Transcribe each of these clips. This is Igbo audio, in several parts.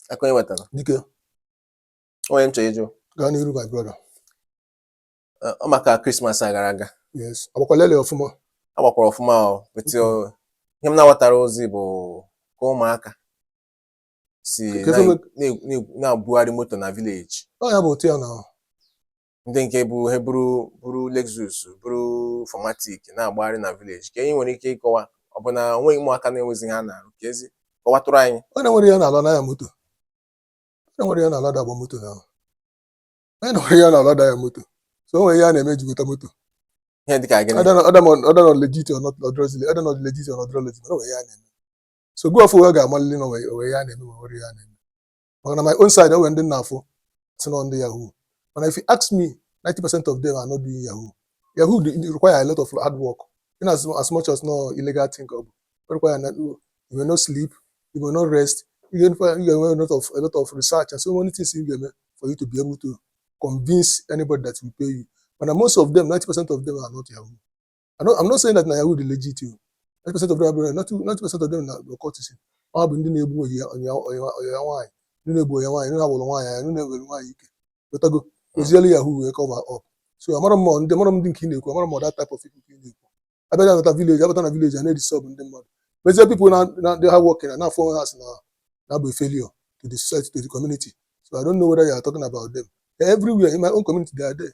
aka onye wetara dike onye m chọrọ ịjụ gaa n'iru my brother eh, ọ maka Christmas a gara aga yes agbakwala ele ọfụma a gbakwara ọfụma o wetị o- ihe m na-aghọtarọzi bụ ka ụmụaka si Kedu na- mgbe- na- na- na-abugharị moto na village ọ ya bụ otu ya na ndị nke bụ he buru buru Lexus buru 4matic na-agbagharị na village ka anyị nwere ike ịkọwa ọ bụ na o nweghị ụmụaka na-enwezi ihe ha na-arụ ka ezi kọwatụrụ anyị onye na-enwerọ ihe ọ na-alụ na-anya moto onye na-enwerọ ihe ọ na-alụ ada agba moto na onye na-enwerọ ihe ọ na-alụ ada anya moto so o nwere ihe a na-eme e ji gota moto ihe dịka gịnị whether na ọ legit ọ dịrọ legit whether na ọ legit ọ dịrọ legit mana o nwere ihe a na-eme so gị afụ ị ga-amalịlị na o nwe ihe a na-eme ma nwere ihe a na-eme maka na my own side enwere ndị nna afụ si na ndị yahoo mana if you ask me 90 percent of them are not doing yahoo yahoo dey require a lot of hard work in as, as much as no illegal thing ọ bụ o require na you may not sleep you may not rest you get you get a lot of a lot of research and so many things you get for you to be able to convince anybody that will pay you mana most of them 90 percent of them are not yahoo I'm not, I'm not saying that na Yahoo dị legit o. 90% of them abụrọ 90% of them are occultic ọ bụ ndị na-egbu ọyị ya ọyị ya ọyị ya ọyị ya nwaanyị ndị na-egbu ọyị ya nwaanyị ndị na-awụrụ nwaanyị anya ndị na-ewere nwaanyị ike ghọtago o jili Yahoo wee cover up so amarọ m ma ndị amarọ m ndị nke ị na-ekwu amarọ m ma that type of people ka ị na-ekwu abịa na abata village abata na village a na-edisturb ndị mmadụ mezie people na na ndị hardworking na na-afụ onwe ha sị na ha bụ a failure to the society to the community so I don't know whether you are talking about them They're everywhere in my own community they are there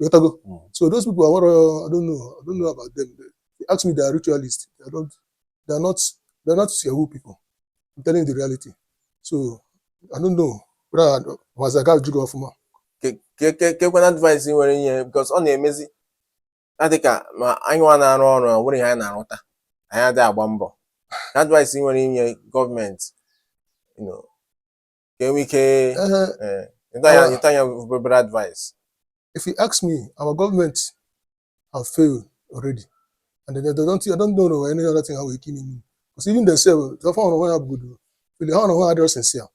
Ị ghọtago. Mm. So those people, I want to, I don't know, I don't know about them. They, they ask me, they are ritualists. They don't, they are not, they are not Yahoo people. I'm telling you the reality. So I don't know. But I was a guy jigger ọfụma kekwanụ advice ị nwere inye because ọ na-emezi adịka ma anyị nwa na-arụ ọrụ o nwerọ ihe anyị na-arụta anyị adịghị agba mbọ advice ị nwere inye government ka e nwee ike eh, eh, ịta ya ịta ya obere advice if you ask me our government have failed already and they, they don't I don't know any other thing ha nwere ike ime ime because even themselves fa onwe ha bụgodu failure ha onwe ha adịrọ sincere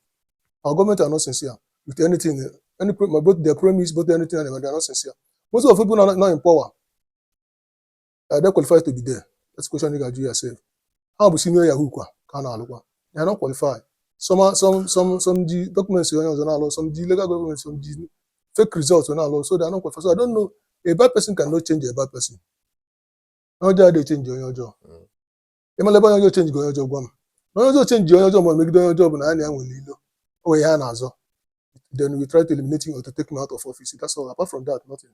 our government are not sincere with anything any pro- both their promise both anything and they are not sincere most of the people nọ, nọ in power are they qualified to be there that's the question you ga-ajụ yourself ha bụ senior yahoo kwa ka a na-alụkwa they are not qualified some are- some some some ji documents onye ọzọ na-alụ some ji illegal documents some ji fake results wee na-alụ so they are not qualified so I don't know a bad person cannot change a bad person onye ọjọọ adịghị achange onye ọjọọ Mm. ị mala ebe onye ọjọọ change onye ọjọọ gwa m na onye ọjọọ change onye ọjọọ ma ọ megide onye ọjọọ bụ na ha na ya nwere ilo o nwere ihe a na-azọ then we try to eliminate him or to take him out of office that's all apart from that nothing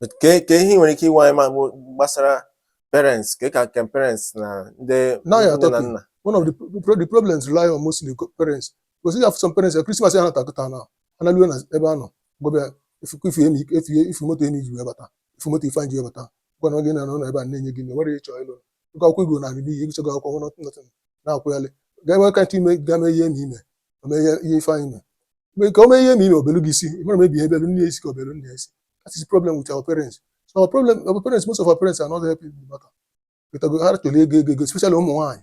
But kee kee ihe ị nwere ike ịgwa anyị ma bụ gbasara parents ka ka ka parents na ndị nne na nna Now you are talking. one of the, pro- pro- the problems rely on mostly co- parents because you have some parents eh, Christmas ị nata kịta ị nalue n'ebe a ọ gwaba gị ị fụkwa ị fụ Emi ị fụ ị fụ moto Emi ji wee bata ị fụ moto Ifeanyị ji wee bata gịnwa gị na-anọ ebe a na-enye gị nri, nwere ịchọ ịlụ oge akwụkwọ igbo na-abịa n'ihi agụsigo akwụkwọ nothing nothing na-akwụghalị ga-enwe ka ntị ime ga-eme ihe na ime ome ihe ihe ife anyị mee mgbe ka o mee ihe na ime obelu gị isi ị mara mebi ihe belu nne ya isi ka obelu nne ya isi that is the problem with our parents so our parents most of our parents are not helping the matter wetago ha chọrọ ego ego ego especially ụmụ nwaanyị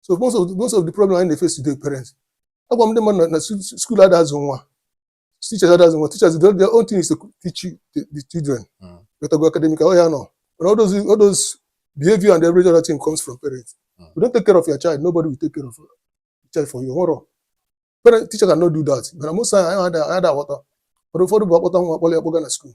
so most of most of the problem anyị na-efesi today parents agwa m ndị mmadụ na- na su- school adazụ nwa teachers adazụ nwa teachers their their own thing is to teach you the, the children Mm. but go academic oh yeah no but all those all those behavior and every other thing comes from parents Mm. you don't take care of your child nobody will take care of your child for you hold on parent teacher cannot do that but most times I had I had water but ụfọdụ bụ akpọta nwa akpọrọ ya kpọga na school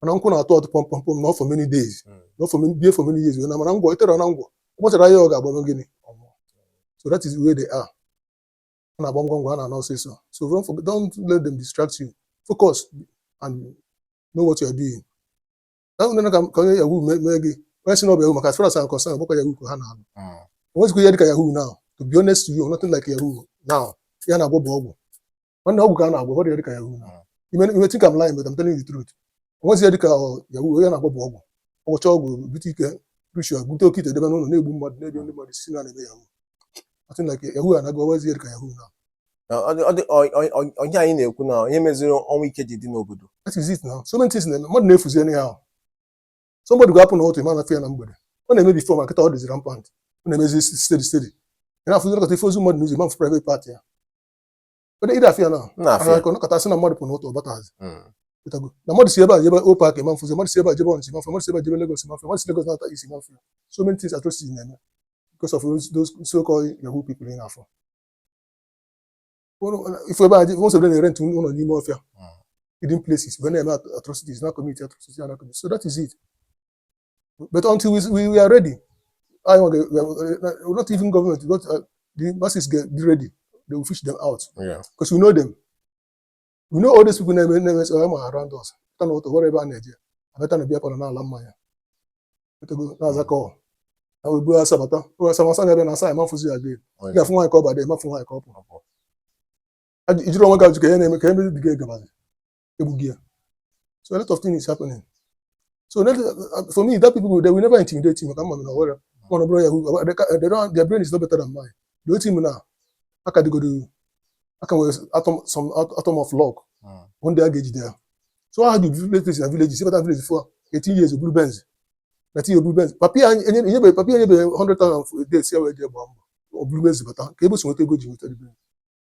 mana nkwụ na-atụ atụ pọm pọm pọm nọọ for many days Mm. nọọ for many bie for many years na mana ngwọ i tere na ngwọ ụbọchị ahụ ọ ga-agba mee gịnị ọ nwụọ so that is where they are a na-agba ngwa ngwa a na-ana ọsịsọ so don't, forget, don't let them distract you focus and know what you are doing na nwere ka ka onye yahoo mee mee gị onye si na ọ bụ yahoo maka as far as I'm concerned ọ bụkwa yahoo ka ha na-alụ Mm. onwezikwa ihe dịka yahoo now to be honest to you nothing like yahoo now ihe a na-agwọ bụ ọgwụ nwanne ọgwụ ka a na-agwọ onwezi ihe dịka yahoo now you may think I'm lying but I'm telling you the truth onwezi ihe dịka ọ, yahoo ihe a na-agwọ bụ ọgwụ ọ gwọcha ọgwụ bute ike ritual bute oke ite debe n'ụlọ na-egbu mmadụ na-egbu ndị mmadụ sị na a na-eme yahoo nothing like yahoo anaghị onwezi ihe dịka yahoo now Na ọ dị- ọ dị- ọ- ọ- ọ- ọ bụ ihe anyị na-ekwu na ihe meziri ọnwụ ike ji dị n'obodo that is it now so many things na-eme mmadụ na-efuzi anyhow somebody ga-apụ n'ụtụtụ ị ma-afụ ya na mgbede ọ na-eme before mana kịta ọ dịzi rampant ọ na-emezi steady steady ị na-afụzi nọkata ị fụ ozu mmadụ n'ụzọ ị ma-afụ private part ya Onye ide afịa na m na-afịa ahụ ka a nọkata sị na mmadụ pụ n'ụtụtụ ọ batazi Mm. pụtago na mmadụ si ebe a jebe Upper Iweka a ma-afụzi mmadụ si ebe a jebe Ọnịcha a ma-afụzi mmadụ si ebe a jebe Lagos a ma-afụzi mmadụ si Lagos na-anata East a ma-afụzi so many things atrocities na-eme because of those, those so-called yahoo people ị na-afụ Ụlọ- ị fụ ebe a je- most of them na-erent ụlọ n'ime ọfịa Mm. hidden places wee na-eme at- atrocities na commit atrocities na commit so that is it but until we, we, we are ready anyị nwa ga- ga- not even government not, uh, the masses get ready they will fish them out Yeah. because we know them we know all these people na-eme na-eme some are around us pụta n'ụtụtụ o nwerọ ebe ha na-eje abata na beer parlour na-ala mmanya pụtago na-aza call na wee buru asa bata buru asa masa na-abịa na asa ị ma-afụzi ya again ị ga-afụ nwaanyị ka ọ bata ị ma-afụ nwaanyị ka ọ pụrụ Ajụ- ị jụrụ onwe gị ajụjụ kee ihe na-eme kee ebe the girl gabazi e gbugo ya so a lot of things happening so that, uh, for me that people they will never intimidate me maka m ma na ọhụrụ mana ọ bụrụ ya who they ca- they don't their brain is not better than mine the only thing na ha ka dịgodu ha ka nwere atom some at- atom of luck Mm. one day a ga-ejide ya so ha dị villages na villages ịbata village fụ 18 years oburu benz 19 years oburu benz papa ya enye- enyebeghị papa ya enyebeghị 100,000 for a day sị ya were jee gbaa mbọ oburu benz bata kee ebe o si nweta ego ji nweta the benz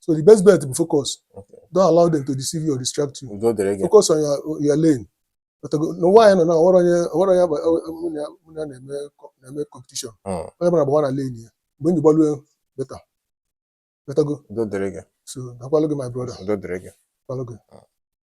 so the best bet bụ focus Okay. don't allow them to deceive you or distract you udo dịrị gị focus on your, your lane But go- n'ụwa anyị nọ na o nwerọ onye o nwerọ onye agba- ọ- ọ- mụ na ya- mụ na ya na-eme co- na-eme competition Mm. onye ọbụna gbawa na lane ya mgbe i ji gbalue beta betago udo dịrị gị so dakwalụ gị my brother udo dịrị gị dakwalụ gị